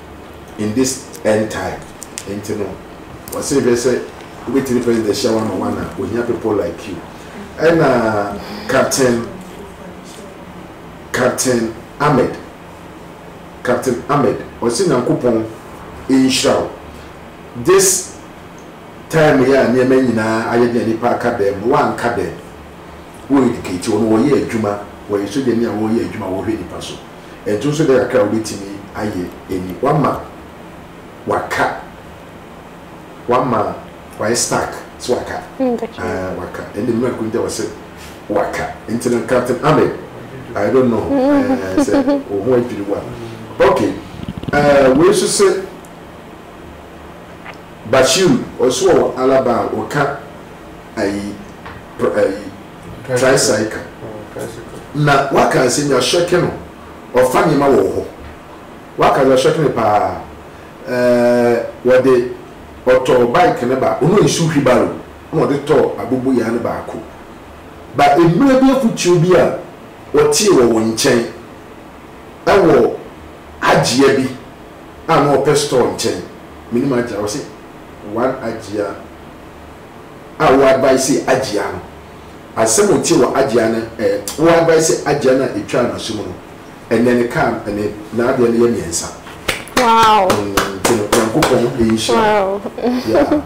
in this end time nti no wɔse hwɛ sɛ wobɛtumi president hyia one on one a ohia people like you ɛna captain captain ahmed captain ahmed ɔse nyankopɔn nhyira wo this time yɛ a nneɛma nyinaa ayɛ den a nipa aka dɛm no wanka dɛm wo educate wɔn wɔyɛ adwuma wɔyɛ sogyani a wɔyɛ adwuma wɔhwɛ nipa so Ɛnto nso dɛn kakra a wobɛtumi ayɛ ni, woama waka, woama wayɛ stuck, sɛ waka, ah, waka, ɛnde mmerɛ ko nti wɔse waka, nti no Captain Ahmed, I don't know, eh, sɛ wo ho adwiri wo a, ok, eh, wei nso se Bashiru, ɔse wɔ Alaba a wɔka ayi, ayi, Tricycle. Na waka sɛ nea ɔhyɛke no, ɔfa nneɛma wɔ hɔ. Waka deɛ ɔhyɛke no paa. Ɛɛ, ɔde, ɔtɔɔ bike no ba, ɔno nsu wheelbarrow, ɛna ɔde tɔɔ aboboyaa no baako. Ba mmerɛ bi afotuo bi a ɔtee wɔ wɔn nkyɛn, ɛwɔ Agyea bi a na ɔpɛ store nkyɛn, menim Agyea, ɔse one Agyea. a wo advice agyea no asɛm otee wɔ agyea no eh wo advice agyea no a etwaa no asu mu no ɛnɛ ne car ne n'adeɛ no yɛ mmiɛnsa wow nti no nyankopɔn nhyira yeah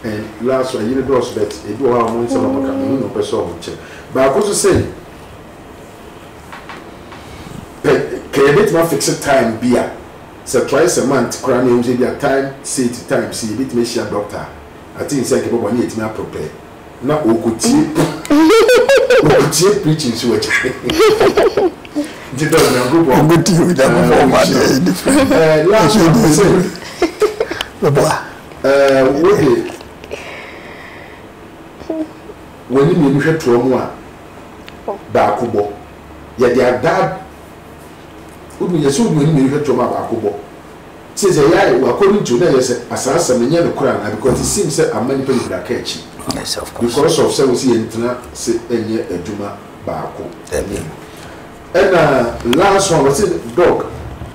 and last one yere dɔɔso bet ebi wɔ hɔ a wɔn nsɛm a wɔka mehu na ɔpɛ sɛ wɔn kyɛ baako so sɛ pɛ kɛyɛ betumi afixe time bi a sɛ twice a month koraa na ehu sɛ bi a time sate time si ebetumi ahyia doctor Atsee sɛ nkebɔbɔ nye etumi apor pɛ na okotie okotie preaching so agya nti dɔ Nyankopɔn Obetie Onyankopɔn ɔma adeɛ yɛ different eh last one me se Bɛboa eh wode w'ani mmienu hwɛ toɔ mu a baako bɔ yɛde adaa wode yɛsɛ wode w'ani mmienu hwɛ toɔ mu a baako bɔ Tse dza yɛayɛ wɔ akɔdo ntsi o na yɛ sɛ asaasɛm no nnyɛ nokwar anaa because it seems sɛ amma nyimpa beberee aka akyi because of sɛ wose yɛntsena ase nyɛ adwuma baako nye no nna last one wɔse Doc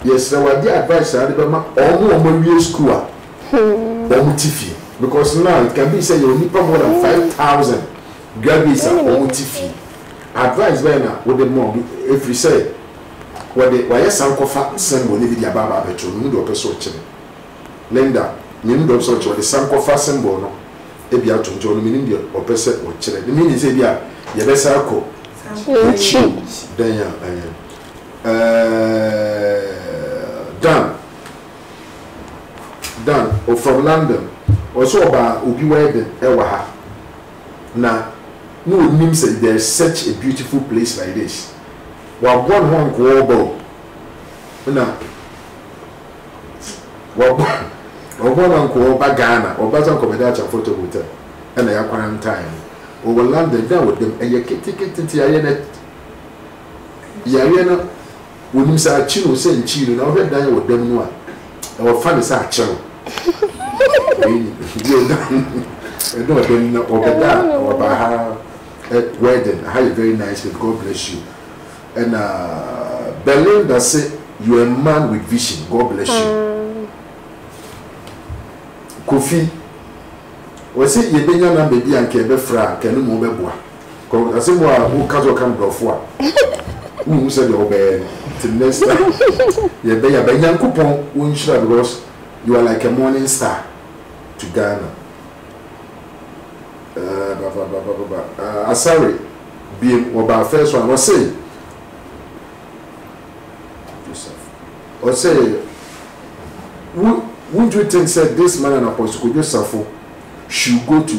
yɛserɛ wo adze advice ara de bɛma ɔmo a ɔmo awie skuul a ɔmo tse fie because now it can be sɛ yɛwɔ nyimpa more than five thousand graduates a ɔmo tse fie advice bɛn na wode ma ɔmo efiri sɛ Wɔde wɔayɛ sankɔfa nsɛm wɔ ne bi de aba aba abɛto no mu deɛ ɔpɛ sɛ ɔkyerɛ. Linda, Menim deɛ ɔpɛ sɛ ɔkyerɛ, ɔde sankɔfa symbol no bi ato nti ɔno menim deɛ ɔpɛ sɛ ɔkyerɛ. Ne meaning sɛ ebia yɛbɛsan akɔ yɛakyi dɛn a ɛɛ. Dan, Dan, ɔ from London, ɔse ɔbaa obi wedding ɛwɔ ha. na na ɔnim sɛ there's such a beautiful place like this. Waboa ne ho ankoɔɔba o, na waboa no ankoɔɔba Ghana, ɔba sɛ ankɔbɛda Akyɛ Mfɔtɔ Hotel ɛna ya quarantine no. Ɔwɔ London, da ɔda mu, ɛyɛ ketekete nti yareɛ no, yareɛ no. Wonim sɛ akyi no sɛ nkyii no na wohwɛ dan wɔ dam no a, ɛwɔ fa ne sɛ akyɛ no. Wei ni bio da ɛna ɔda ni na ɔbɛda a na waba ha ɛ wedding ha yɛ very nice babe God bless you ɛna Belinda se you are a man with vision God bless you Kofi ɔse yɛbɛnya number bi a nka yɛbɛfrɛ a nka ɛno ma wobɛboa. Kɔ ase mu a wo ka sɛ ɔka mborɔfo a wo nhu sɛdeɛ wo bɛyɛ no till next time yɛ bɛ ya bɛ Nyankopɔn wo nhyira because you are like a morning star to Ghana eh bababababa ah Asare biem wɔ baa first one ɔse ɔse wo won't you think sɛ this man and Apostle Kojo Safo should go to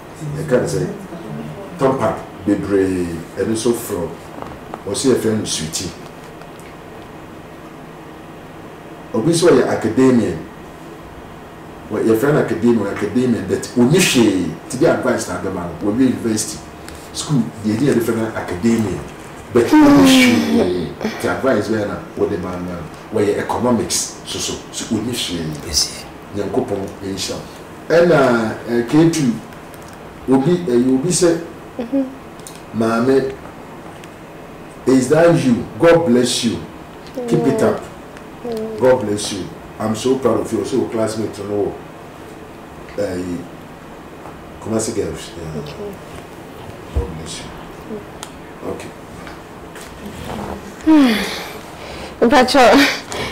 yɛka no sɛ tampa bebree ɛno nso frɛ wɔsi yɛfrɛ no suti obi nso ɔyɛ academia wɔ yɛfrɛ no academia wɔ academia but ɔni hwee ti bi advice na abɛma no wɔwie university school deɛ ɛdi yɛde frɛ no academia but ɔni hwee ti advice bɛyɛ na wɔde ma no wɔyɛ economics soso so ɔni hwee Nyankopɔn nhyira wo. Ɛna eh Ketu obi ɛyɛ obi sɛ maame is that you God bless you keep it up God bless you I'm so proud of you ɔsɛ wo classmate no wɔ ɛyi Kumasi girls yeah God bless you okay. Mpakyɛw,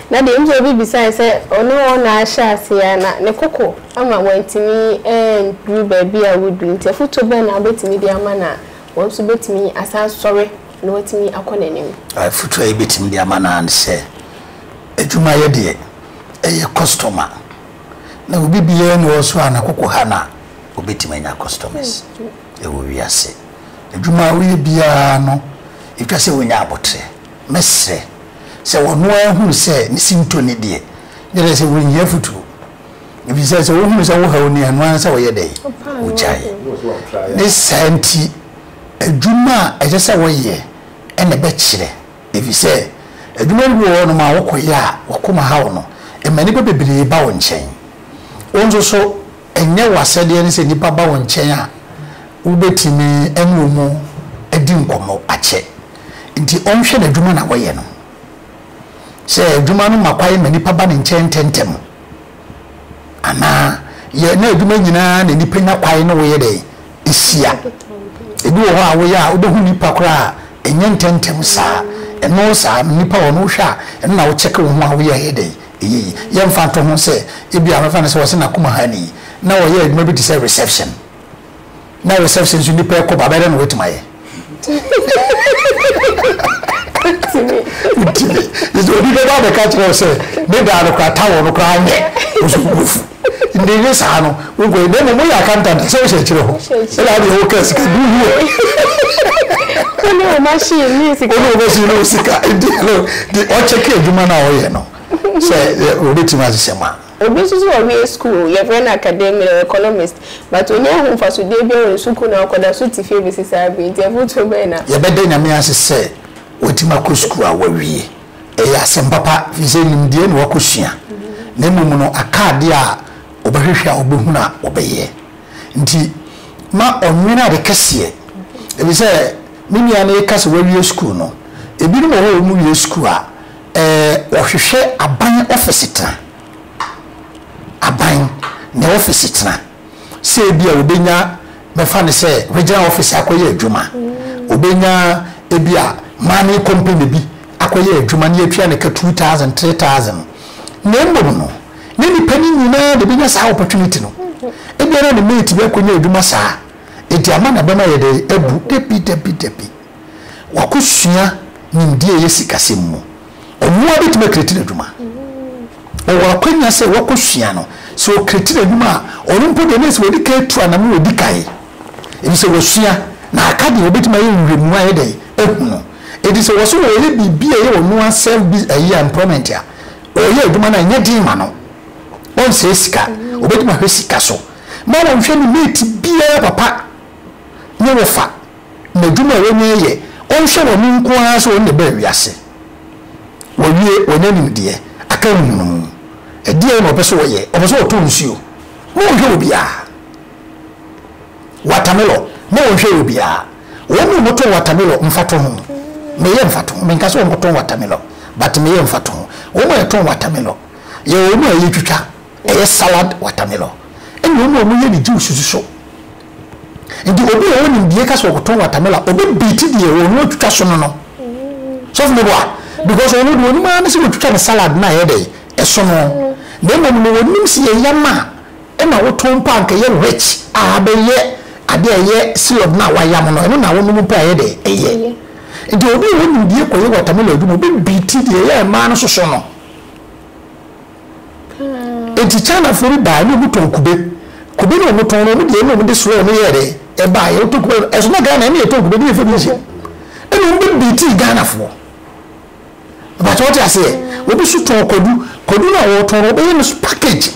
na deɛ ɛmu sɛ obi bisae sɛ ɔne wɔn na ahyɛ aseɛ a, na ne koko ama wantumi anduru baabi a wɔduru nti, afotuo bɛn na wobɛtumi de ama no a wɔn nso bɛtumi asan asɔre na wɔatumi akɔ n'anim? Afotuo a yɛbɛtumi de ama no ara ne sɛ, adwumayɛ deɛ, ɛyɛ kɔstɔma, na obi biara nni hɔ nso a ne koko ha no a, ɔbɛtumi anya kɔstɔmɛs. wɔ wiase. Adwuma a ɔyɛ biara no, etwa sɛ onya aboterɛ. Mɛsrɛ sɛ ɔno ara hunu sɛ ne sintɔ nni deɛ ɛkyerɛ sɛ ɔrenhia afotuo, ɛfiri sɛ sɛ ɔhunu sɛ wohaw no a, ɛno ara ne sɛ ɔyɛ dɛn? Ɔgyae. Ne saa nti, adwuma a ɛsɛ sɛ ɔyɛ na ɛbɛkyerɛ, ɛfiri sɛ adwuma bi wɔ hɔnom a wokɔyɛ a w'akoma haw no, ɛma nnipa bebree ba wo nkyɛn. Wo nso so, Ɛnyɛ w'asɛdeɛ ne sɛ nnipa ba wo nkyɛn a wobɛtumi ne wɔn adi nkɔmmɔ akyɛ nti ɔnhwɛ n'adwuma na ɔyɛ no. Sɛ adwuma no ma kwan ma nnipa ba ne nkyɛn ntɛmntɛm anaa yɛ na adwuma nyinaa na nnipa nya kwan ne woyɛ dɛn hyia. Ebi wɔ hɔ a woyɛ a wobɛhu nnipa koraa a ɛnyɛ ntɛmntɛm saa. Ɛno saa nnipa wɔ no wohwɛ a ɛno na wokyɛke wo ho a woyɛ a ɛyɛ dɛn Eyi, yɛmfa nto ho sɛ ebia wɔbɛfa no sɛ ɔhyɛ n'akoma hannii, na ɔyɛ adwuma bi te sɛ reception. Ná reception nso nnipa rekɔ ba, bɛyɛ dɛn na watumi ayɛ? Ontumi. Ontumi. Gye sɛ obi bɛba abɛka akyerɛ wo sɛ, ne daa no koraa, towel no koraa nyɛ wo so wubu afu. Ndɛ nye saa no nkɔyɛ na mbom moyɛ accountant a sɛ wohyɛ nkyerɛ hɔ na adeɛ woka sika gu ho a Wo ne wo machine ne wo sika. Wo ne wo machine ne wo sika nti no de ɔkyɛke adwuma no a woyɛ no sɛ wɔbɛtumi ahyehyɛ ma. Obi nso so ɔwie sukuu yɛfrɛ no academia ɔyɛ economist but ɔnnya hu mfasodeɛ biara wɔ ne sukuu na ɔkɔda so te fie bɛsi saa berɛ yi nti afotuo bɛn na. Yɛbɛda Nyame ase sɛ watumi akɔ sukuu a wawie. ɛyɛ asɛm papa, ɛfiri sɛ nimdeɛ na wɔakɔsua, na mmom no aka adeɛ a wɔbɛhwehwɛ a wɔbɛhunu a wɔbɛyɛ. Nti ma ɔnwene ade kɛseɛ, ɛfiri sɛ me nua no reka sɛ wawie sukuu no, ebinom wɔ hɔ a wɔwie sukuu a, ɛɛ, wɔhwehwɛ aban ɔfese tena, aban na ɔfese tena. sɛ ebia obenya bɛfa no sɛ wagyina ɔfese akɔyɛ adwuma, obenya ebia mining company bi akɔyɛ adwuma na yɛatua no ka two thousand, three thousand. Na mmom no, ne nipa no nyinaa na ebenya saa opportunity no. Ebia na ne mate bi akɔnya adwuma saa, enti ama no abam ayɛ dɛn? Abu. Dabi, dabi, dabi. Wakɔsua nimdeɛ a ɛyɛ sikasɛm mu. Ɔno ara bɛtumi akreati n'adwuma. Ɔwɔ akwanya sɛ wakɔsua no. Sɛ ɔkreati n'adwuma a, ɔno mpo deɛ na ɛsɛ sɛ ɔdi kan tu anam na ɔdi kan. Ɛfiri sɛ wasua, na aka deɛ ɔbɛtumi ayɛ nhwehwɛmu ayɛ dɛn ahu no. Enti sɛ ɔse ɔreyɛ biribi a ɛyɛ ɔno ara self bi ayi a employment a, ɔreyɛ adwuma no a ɛnyɛ den ma no. Ɔnsɛe sika. Ɔbɛtumi ahwɛ sika so. Mma wɔnhwɛ no mate biara papa nyɛ wo fa. N'adwuma a wɔnya yɛ, ɔnhwɛ wɔn nko ara sɛ wɔn na ɛbaa wiase. Wɔawie, wɔanya nimdeɛ, aka nhunumu. Ɛdeɛn na wɔpɛ sɛ wɔyɛ? Wɔpɛ sɛ wɔtɔ nsuo. Ma wɔnhwɛ obiara. Watermelon, ma wɔnhwɛ obiara. Wɔn a wɔtɔn watermelon, mfatoho, meyɛ mfatoho, menka sɛ wɔnkɔtɔn watermelon, but meyɛ mfatoho. Wɔn a wɔtɔn watermelon, yɛwɔ wɔn a yɛtwitwa, ɛyɛ salad watermelon, ɛna wɔn a wɔyɛ ne juice nso. Nti obi a ɔwɔ nimdie ka sɛ ɔkɔtɔn watermelon a, ɔbɛbeati deɛ ɛwɔ no atwitwa so no no. Sɔfo meboa? Because ɔno deɛ ɔnim ara ne sɛ watwitwa ne salad no a ɛyɛ dɛn? Ɛso no. Na mmom no ɔnim sɛ yɛ yam a ɛna wotɔn mpo a anka ɛyɛ rich a abɛyɛ adeɛ a ɛyɛ syrup no a wayam no, ɛno na wonom mpo a ɛyɛ dɛn? Ɛyɛ. Nti obi a ɔwɔ nimdie kɔyɛ watermelon adwuma a, ɔbɛbeati deɛ ɛyɛ mmaa no soso no. Enti Chinafoɔ bi baeɛ na wɔtɔn kube. Kube na wɔtɔn no, wɔn deɛ ɛna wɔde soɛ wɔn yɛɛ dɛ ɛbaeɛ. Wɔtɔ kube no, ɛso na Ghana ɛna yɛtɔn kube, ɛna yɛfa bi nhyɛ mu. Ɛna wɔn bɛ biitii Ghanafoɔ. Mpakyɛ wɔte aseɛ. Obi so tɔn kwadu, kwadu no a wɔtɔn no wɔbɛyɛ no package.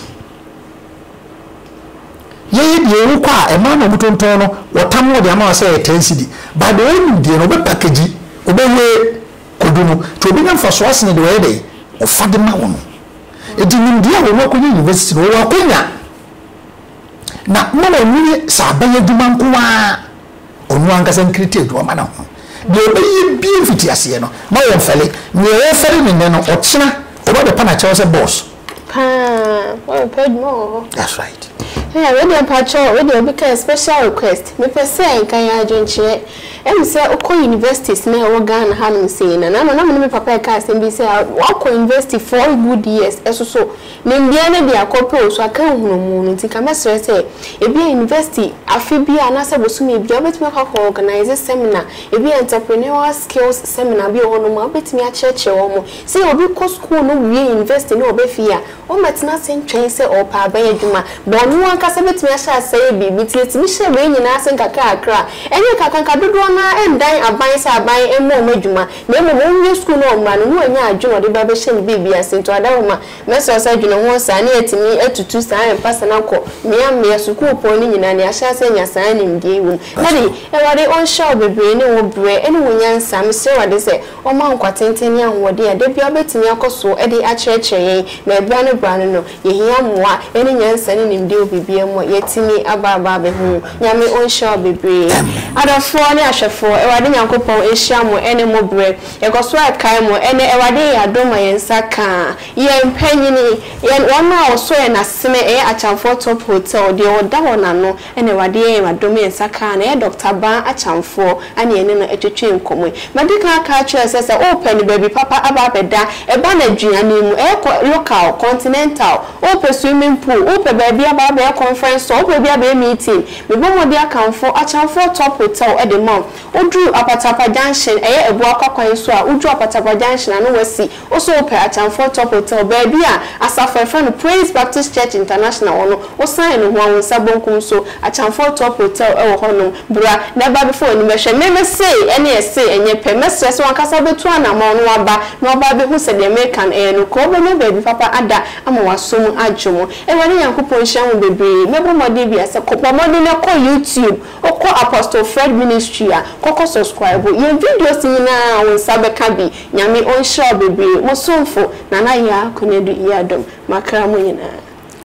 Yɛyɛ deɛ wokɔ a ɛmaa na wɔn tontɔn no, wɔtam wɔde ama wɔn sɛ ɛyɛ ten cedi. By the wɔn nim deɛ no wɔbɛ package, wɔbɛwie. Kodu no, nti ɔbɛnya mfasoɔ asene deɛ ɔyɛ dɛn? Ɔfa de ma wo no. Nti nimdeɛ a wɔn akɔnya university no, wɔwɔ akwanya na ma wɔnyini sɛ aban adwuma nko ara, ɔno ankasa nkiriti adwuma ma ne ho. Deɛ ɔbɛyɛ bia mfitiaseɛ no, ma wɔnfɛle. Neɛ ɔrefɛle no nnɛ no, ɔkyena ɔba bɛpa no akyɛw sɛ boss. Paa wɔ pɛ adwuma wɔ hɔ. That's right. Ɛɛ wei deɛ mpakyɛ wei deɛ obi kaa special request mepɛ sɛ nka yɛ adwenkyerɛ ɛm sɛ wokɔ universities na ɛwɔ Ghana hanom sei na na ama na mene me papa ɛka asɛm bi sɛ wakɔ university four good years ɛsoso ne mmea no de akɔ pɛ osu aka nhunumu no nti nka mɛsrɛ sɛ ebia university afe bi a anaasɛ bosome bi a wobɛtumi akɔ akɔ organize seminar ebia entrepreneurial skills seminar bi wɔ hɔnom a wobɛtumi akyerɛkyerɛ wɔn Sɛ obi kɔ sukuu no wie yunivɛsiti na ɔba fie a, ɔmmɛtena ase ntwɛn sɛ ɔrepɛ abɛyɛ adwuma. Bɔ ɔno ankasa bɛtumi ahyɛ aseɛ ayɛ biribi. Nti yɛtumi hyɛ wei nyinaa ase nkakrakra. Ɛnyɛ nkakrankra, dodoɔ no ara ndan aban sɛ aban mmɔ wɔn adwuma, na mmom ɔnwie sukuu na ɔmmra no, na wanya adwene a ɔde bɛba abɛhyɛ ne biribi ase. Nti ɔda hɔ ma mɛsrɛ sɛ dwene ho saa na yɛatumi atutu saa mpase no akɔ mmea mmea sukuupɔn no nyinaa na yɛahyɛ ase anya saa nimdeɛ yi wɔ mu. Daddy, Awurade ɔnhyira wo bebree ne wo berɛ ne wo nyansa. Mesrɛ Awurade sɛ Ɔma nkwa tenten ne ahoɔden a da biara wobetumi akɔ so de akyerɛkyerɛ yɛn, na bere ano bere ano no, yehia mmoa ne nyansa ne nimdeɛ wɔ biribiara mu a yɛatumi abɔ abɔ abehu. Nyame ɔnhyira wo bebree. Adɔfoɔ ne ahwɛfoɔ, Awurade Nyankopɔn nhyira mo ne mo berɛ. Yɛkɔ so ɛkae mo ɛnnɛ, Awurade yɛ adom ma yɛn nsa ka yɛn mpanyini, yɛn wɔn a wɔsɔ yɛn asene, ɛyɛ Akyamfoɔ Top Hotel, deɛ ɔda hɔ na no, Ɛna Awurade yɛɛ ma dɔm yɛ nsa kaa no, ɛyɛ dɔkta baa akyamfoɔ ɛna yɛne no ɛtwetwee nkɔmɔ yi. Madi kan aka akyerɛ sɛ sɛ wopɛ no baabi papa aba abɛda, ɛba no aduane mu, ɛyɛ kɔ local, continental, wopɛ swimming pool, wopɛ baabi aba abɛyɛ conference hall, wopɛ baabi abɛyɛ meeting, mebɔ mmɔden akamfo akyamfoɔ top hotel ɛde ma wo. Woduru Apatapa junction, ɛyɛ Abuakwa kwan so a, woduru Apatapa junction a na wasi Wo so wopɛ Akyamfoɔ Top Hotel, baabi a asafo a yɛfrɛ no Praise Baptist Church International wɔ no, wosan no ho a, wo nsa bonkum so, Akyamfoɔ Top Hotel wɔ hɔnom. Bra, na ɛba bɛfa w'ani bɛhwɛ. Me, me sei, ɛne ɛsei, ɛnyɛ pɛ. Mɛsrɛ sɛ w'ankasa bɛtu anamɔn na woaba, na woaba abɛhu sɛ deɛ mereka no, ɛyɛ nokorɛ. Wobɛnya baabi papa ada ama w'aso mu adwo mo. Awurade Nyankopɔn nhyira mo bebree. Mɛbɔ mmɔden bi asɛ, kɔ, bɔ mmɔden na kɔ YouTube, wokɔ Apostle Fred Ministry a, kɔkɔ subscribe. Yɛn videos nyinaa, wo nsa bɛka bi. Nyame ɔnhyira wo bebree. Mo somfo Nana Yaa Konadu Yiadom, M'akra mu nyinaa.